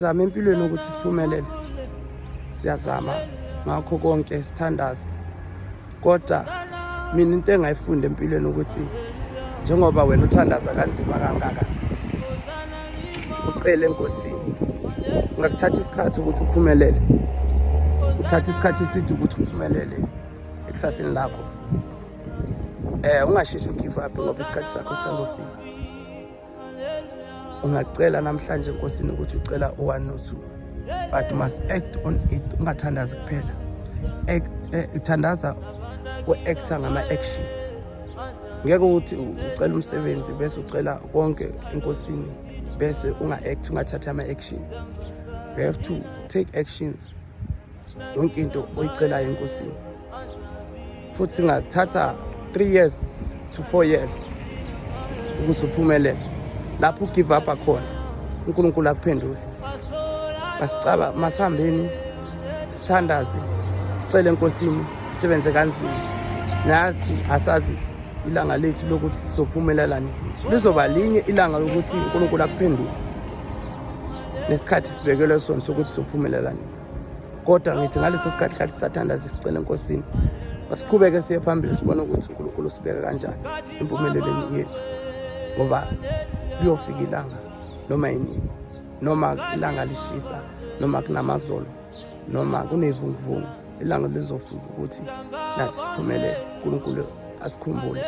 Zama empilweni ukuthi siphumelele. Siyazama ngakho konke sithandaze. Kodwa mina into engayifunda empilweni ukuthi njengoba wena uthandaza kanzima kangaka ucele enkosini ngakuthatha isikhathi ukuthi uphumelele uthatha isikhathi eside ukuthi uphumelele ekusasini lakho eh ungasheshi ugive up ngoba isikhathi sakho sisazofika ungacela namhlanje enkosini ukuthi ucela u-one no two but you must act on it ungathandazi kuphela eh, thandaza u-acta ngama-action ngeke ukuthi ucela umsebenzi bese ucela konke enkosini bese unga-act ungathathi ama-action you have to take actions yonke into oyicelayo enkosini futhi singakuthatha 3 years to 4 years ukuze uphumelele lapho ugive up akhona unkulunkulu akuphendule basicaba masihambeni sithandaze sicele enkosini sisebenze kanzima nathi asazi ilanga lethu lokuthi sizophumelelani lizoba linye ilanga lokuthi unkulunkulu akuphendule nesikhathi sibekelwe sona sokuthi sizophumelelani kodwa ngithi ngaleso sikhathi khathi sathandaza sicela enkosini masiqhubeke siye phambili sibone ukuthi unkulunkulu usibeka kanjani empumelelweni yethu ngoba liyofika ilanga noma yinini noma ilanga lishisa noma kunamazolo noma kunevunguvungu ilanga lizofika ukuthi nathi siphumelele unkulunkulu asikhumbule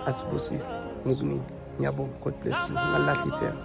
asibusise ngokuningi ngiyabonga god bless you ngalilahla ithemba